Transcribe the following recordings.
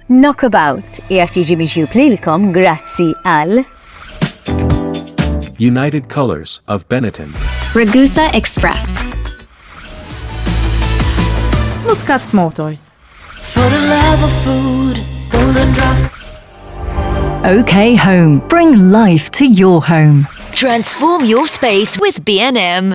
Knockabout qiegħed jiġi miġjub lilkom grazzi għal United Colors of Benetton. Ragusa Express. Muscats Motors. For the love of food, golden drop. OK Home. Bring life to your home. Transform your space with B&M.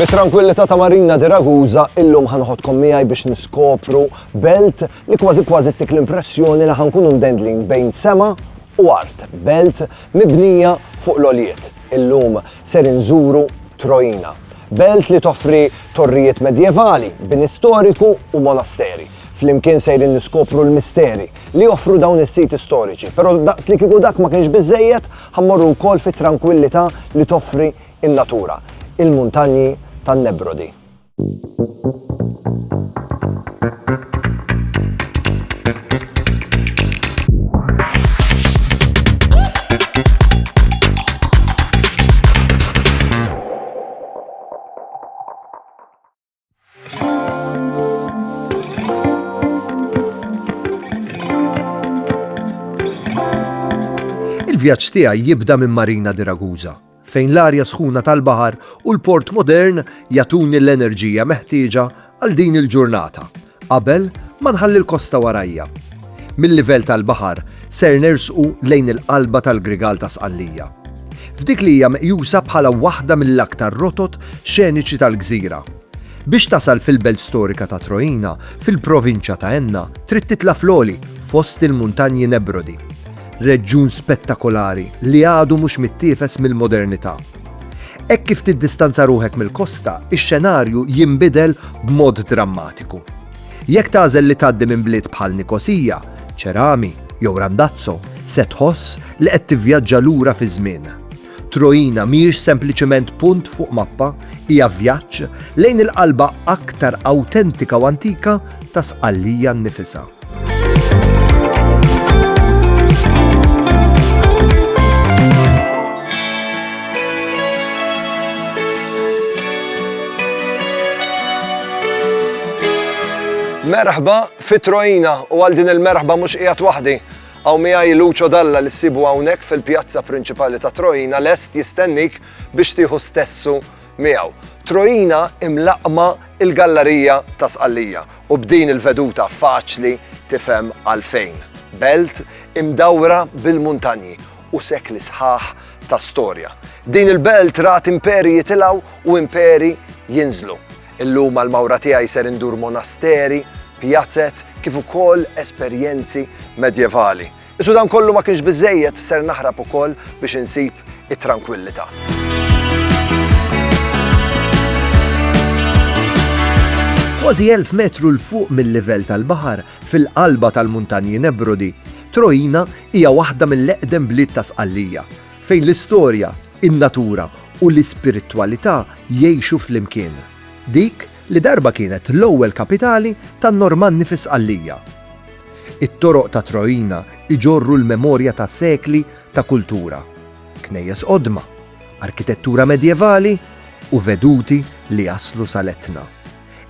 Mit-trankwillità ta' Marina di Ragusa illum ħa noħodkom miegħi biex niskopru belt li kważi kważi ttik l-impressjoni li ħankunu mdendlin bejn sema u art, belt mibnija fuq l-għoljiet. Illum ser inżuru Trojina, belt li toffri torrijiet medjevali, bini storiku u monasteri. Flimkien sejrin niskopru l-misteri li joffru dawn is-siti storiċi, però daqs li kieku dak ma kienx biżżejjed, Ħa mmorru wkoll fit-trankwillità li toffri n-natura, il-Muntanji tan-Nebrodi. Il-vjaġġ tiegħi jibda minn Marina di Ragusa, fejn l-arja sħuna tal-baħar u l-port modern jagħtuni l-enerġija meħtieġa għal din il-ġurnata Qabel ma nħalli l-kosta warajja. Mil-livell tal-baħar ser nersqu lejn il-qalba tal-Grigal ta' Sqallija. F'dik li hija meqjusa bħala waħda mill-aktar rotot xeniċi tal-gżira. Biex tasal fil-belt storika ta' Troina, fil-provinċja ta' Enna, trid titla' fl-għoli, fost il-Muntanji Nebrodi. Reġjun spettakolari li għadu mhux mittiefes mill-modernità. Hekk kif tiddistanza ruħek mill-kosta, ix-xenarju jinbidel b'mod drammatiku. Jekk tagħżel li tgħaddi minn bliet bħal Nikosija, Ċerami, jew Randazzo, se tħoss li qed tivvjaġġa lura fiż-żmien. Troina mhijiex sempliċement punt fuq mappa, hija vjaġġ lejn il-qalba aktar awtentika u antika ta' Sqallija nnifisha. Merħba fi Trojina u għal din il-merħba mhux qiegħed waħdi. Għaw miegħi Lucio Dalla li ssibu hawnhekk fil-pjazza prinċipali ta' Trojina lest jistennik biex tieħu stessu miegħu. Trojina imlaqqma il-gallarija ta' Sqallija u b'din il-veduta faċli tifhem għalfejn. Belt imdawra bil-muntanji u sekli sħaħ ta' storja. Din il-belt rat imperi jitilgħu u imperi jinżlu. Illum għall-mawra tiegħi ser indur monasteri, pjazez kif ukoll esperjenzi medjevali. Iżda dan kollu ma kienx biżejjed ser naħrab ukoll biex insib it-trankwillità. Kważi 1000 metru l fuq mill-livell tal-baħar fil-qalba tal-Muntanji Nebrodi, Trojina hija waħda mill-eqdem bliet ta' Sqallija, fejn l-istorja, in-natura u l-ispiritwalità jgħixu flimkien. Dik li darba kienet l-ewwel kapitali tan-Normanni fi Sqallija. It-toroq ta' Troina jġorru l-memorja ta' sekli ta' kultura, knejjes qodma, arkitettura medjevali u veduti li jaslu sal-Etna.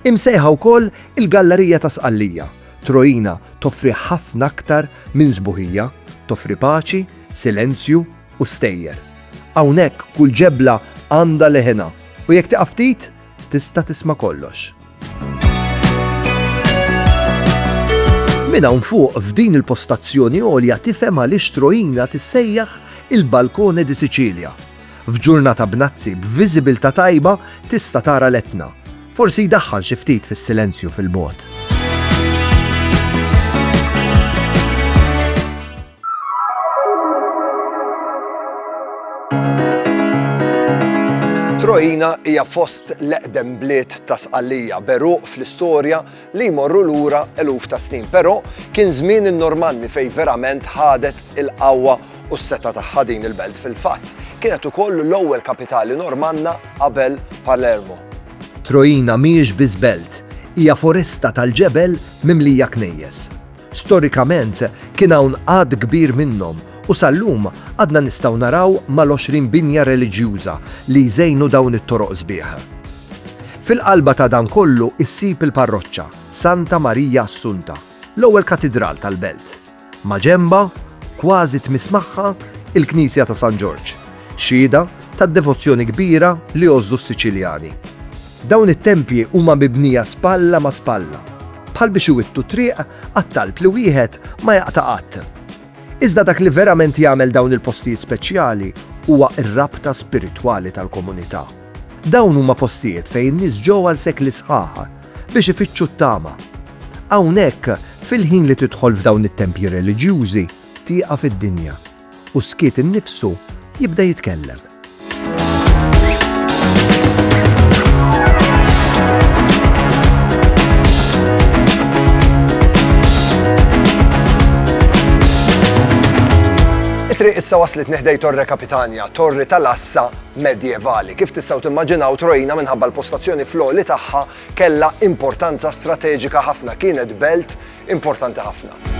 Imsejħa wkoll il-Gallerija ta' Sqallija, Troina toffri ħafna aktar minn sbuħija, toffri paċi, silenzju u stejjer. Hawnhekk kull ġebla għandha leħinha u jekk tieqaf ftit tista' tisma' kollox. Minn hawn fuq f'din il-postazzjoni għolja tifhem għaliex Troina tissejjaħ il-Balcone di Sicilia. F'ġurnata b'nazzi b'viżibilità tajba tista' tara l-Etna. Forsi jdaħħal xi ftit fis-silenzju fil-bogħod. Trojina hija fost l-eqdem bliet ta' Sqallija, beruq fl-istorja li jmorru lura eluf ta' snin, però kien żmien in-Normanni fejn verament ħadet il-qawwa u s-seta tagħha din il-belt fil-fatt. Kienet ukoll l-ewwel kapitali Normanna qabel Palermo. Trojina mhijiex biss belt, hija foresta tal-ġebel mimlija knejjes. Storikament kien hawn għadd kbir minnhom u sal-lum għadna nistgħu naraw mal-għoxrin binja reliġjuża li jżejnu dawn it-toroq sbieħ. Fil-qalba ta' dan kollu issib il-parroċċa Santa Marija Assunta, l-ewwel katidral tal-belt. Maġenbha, kważi tmiss magħha, il-knisja ta' San Ġorġ, xhieda tad-devozzjoni kbira li jgħożżu s-Siċiljani. Dawn it-tempji huma mibnija spalla ma' spalla, bħal biex iwittu t-triq għat-talb li wieħed ma jaqta' qatt. Iżda dak li verament jagħmel dawn il-postijiet speċjali huwa r-rabta spiritwali tal-komunità. Dawn huma postijiet fejn in-nies ġew għal sekli sħaħ biex ifittxu t-tama. Hawnhekk, fil-ħin li tidħol f'dawn it-tempji reliġjużi, tieqaf id-dinja. u s-skiet innifsu jibda jitkellem. It-triq issa waslet neħdej Torre Capitania, torri tal-assa medjevali. Kif tistgħu timmaġinaw trojna minħabba l-postazzjoni fl-oli tagħha kellha importanza strateġika ħafna kienet belt importanti ħafna.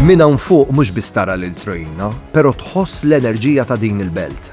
Minn hawn fuq mhux biss tara lil Troina, però tħoss l-enerġija ta' din il-belt.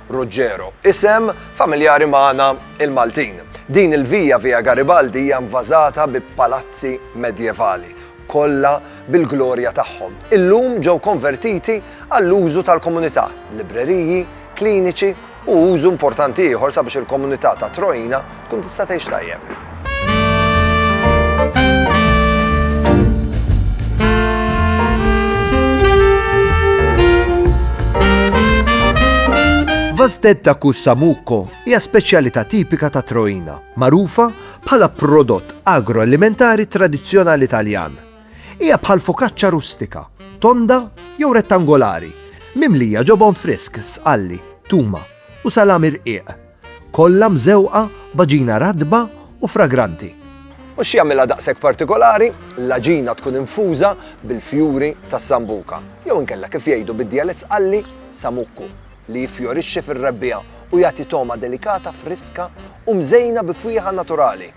Ruggero, isem familjari magħna l-Maltin. Din il-via, Via Garibaldi, hija nvażata bi palazzi medjevali, kollha bil-glorja tagħhom. Illum ġew konvertiti għall-użu tal-komunità, libreriji, kliniċi u użu importanti ieħor sabiex il-komunità ta' Troina Tkun tista' tgħix tajjeb. Vastetta Kussamuko hija speċjalità tipika ta' Troina, magħrufa bħala prodott agroalimentari tradizzjonali Taljan. Hija bħal fokaċċa rustika, tonda jew rettangolari, mimlija ġobon frisk, sqalli, tuma u salami rqiq. Kollha mżewqa b'għaġina ratba u fragranti. U x'jagħmilha daqshekk partikolari? L-għaġina tkun infuża bil-fjuri tas-sambuka, jew inkella kif jgħidu bid-djalett Sqalli, samukku, li jiffjorixxi fir-Rebbiegħa u jagħti togħma delikata friska u mżejna bi fwieħa naturali.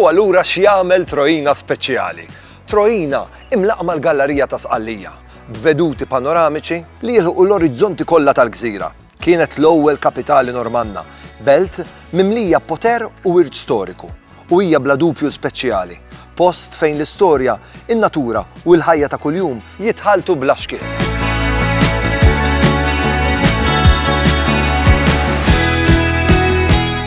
U allura x'jagħmel Trojina speċjali? Trojina imlaqma l-gallarija ta' Sqallija, b'veduti panoramiċi li jilħqu l-orizzonti kollha tal-gżira. Kienet l-ewwel kapitali Normanna, belt mimlija poter u wirt storiku, u hija bla dubju speċjali, post fejn l-istorja, in-natura u l-ħajja ta' kuljum jitħalltu bla xkiel.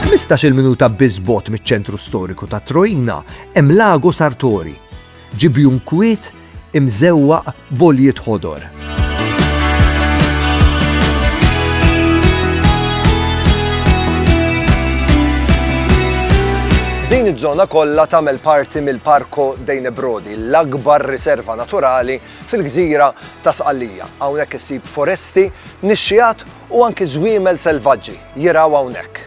Ħmistax-il minuta biss bogħod miċ-ċentru storiku ta' Troina hemm Lago Sartori, Ġibjun kwiet imżewwaq b'għoljiet ħodor. Din iż-żona kollha tagħmel parti mill-Parko Dejne Brodi, l-akbar riserva naturali fil-gżira ta' Sqallija. Hawnhekk issib foresti, nixxiat U anki żwiemel selvaġġi jirgħu hawnhekk.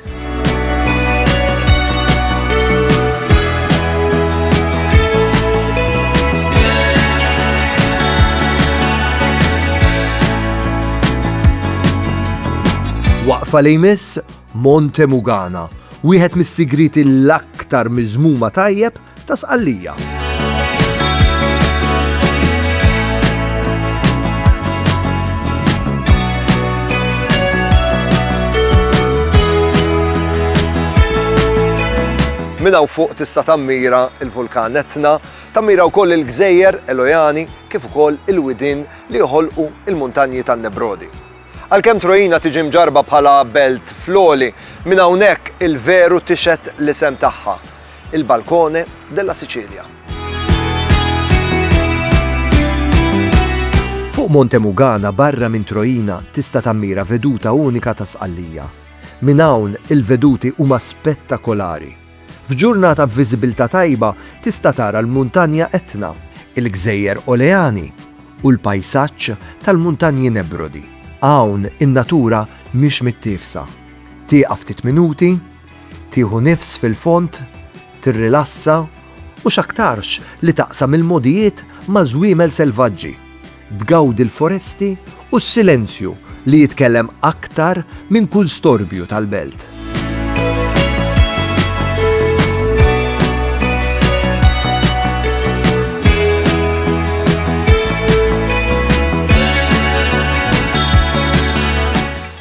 Waqfa li jmiss Monte Mugana, wieħed mis-sigriti l-aktar miżmuma tajjeb ta' Sqallija. Minna u fuq tista' tammira il-vulkan Etna, tammira wkoll il-gżejjer Elojani kif ukoll il-widin li joħolqu il-muntanji tan-Nebrodi. Għalkemm Trojina tiġi mġarba bħala belt floli, minn hawnhekk il-veru tixet l-isem tagħha. Il Balcone della Sicilia. Fuq Monte Mugana barra minn Troina tista' tammira veduta unika ta' Sqallija. Minn hawn il-veduti huma spettakolari. F'ġurnata b'viżibilità tajba tista' tara l-Muntanja Etna, il-Gżejjer Oleani u l-pajsaġġ tal-Muntanji Nebrodi. Hawn in-natura mhix mittiefsa. Tieqaf ftit minuti, Tieħu nifs fil-fond, tirrilassa u x'aktarx li taqsam il-mogħdijiet ma' żwiemel selvaġġi, tgawdi l-foresti u s-silenzju li jitkellem aktar minn kull storbju tal-belt.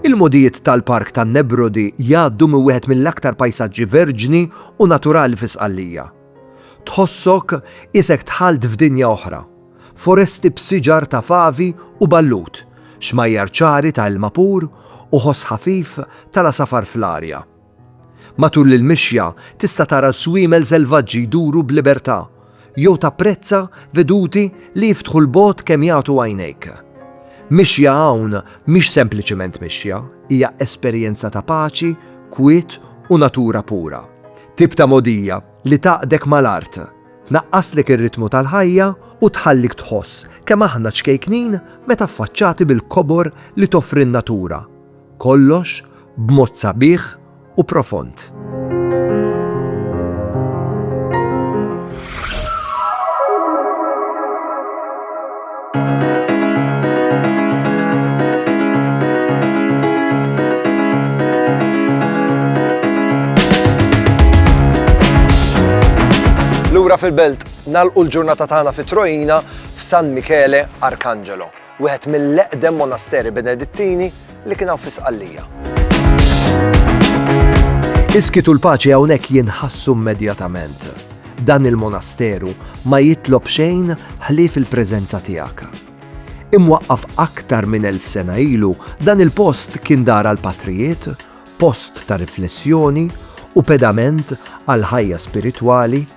Il-mogħdijiet tal-Park tan-Nebrodi jgħaddu minn wieħed mill-aktar pajsaġġi verġni u naturali fi Sqallija. Tħossok isek dħalt f'dinja oħra, foresti b'siġar ta' favi u ballut, xmajjar ċari ta' ilma pur u ħoss ħafif tal-għasafar fl-arja. Matul il-mixja tista' tara żwiemel selvaġġi jduru b'libertà jew tapprezza veduti li jiftħu l-bogħod kemm jagħtu għajnejk. Mixja hawn mhix sempliċement mixja, hija esperjenza ta' paċi, kwiet u natura pura. Tip ta' mogħdija li tgħaqqdek mal-art, tnaqqaslek ir-ritmu tal-ħajja u tħallik tħoss kemm aħna ċkejknin meta ffaċċati bil-kobor li toffri n-natura. Kollox b'mod sabiħ u profond. Lura fil-belt, nagħlqu l-ġurnata tagħna fi Trojina f'San Michele Arcangelo. wieħed mill-eqdem monasteri Benedittini li kien hawn fi Sqallija. Iskit u l-paċi hawnhekk jinħassu immedjatament. Dan il-monasteru ma jitlob xejn ħlief il-preżenza tiegħek. Imwaqqaf aktar minn elf sena ilu, dan il-post kien dar għal patrijiet, post ta' riflessjoni u pedament għal ħajja spiritwali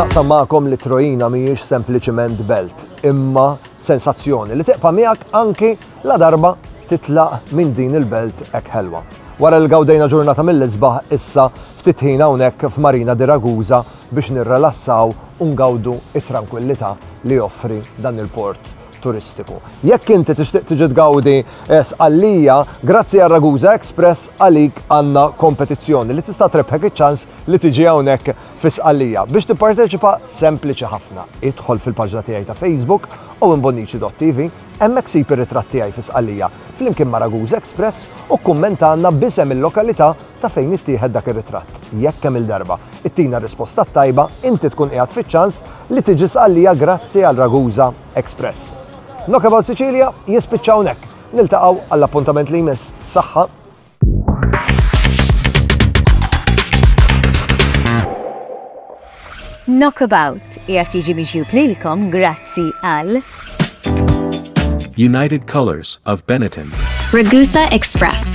Naqsam magħkom li Trojina mhijiex sempliċiment belt, imma sensazzjoni li teqpa miegħek anki la darba titlaq minn din il-belt hekk ħelwa. Wara l gawdejna ġurnata mill-isbaħ issa ftit ħin hawnhekk f'Marina di Ragusa biex nirrelassaw u ngawdu it-trankwillità li joffri dan il-port turistiku. Jekk inti tixtieq tiġi tgawdi eh, sqallija, grazzi għal Ragusa Express għalik għandna kompetizzjoni li tista' trebħek iċ-ċans li tiġi hawnhekk fi sqallija. Biex tipparteċipa sempliċi ħafna. Idħol fil-paġna tiegħi ta' Facebook u imbonnici.tv hemmhekk sib ir-ritratt tiegħi fi sqallija flimkien ma' Ragusa Express u kumment għandna bisem il-lokalità ta' fejn ittieħed dak ir-ritratt. Jekk kemm-il darba ittina r-risposta t-tajba, inti tkun qiegħed fiċ-ċans li tiġi Sqallija grazzi għal Ragusa Express. Knockabout Sicilia jispiċċa hawnhekk. Niltaqgħu għall-appuntament li jmiss. Saħħa! Knockabout qiegħed jiġi miġjub lilkom grazzi għal. United Colors of Benetton. Ragusa Express.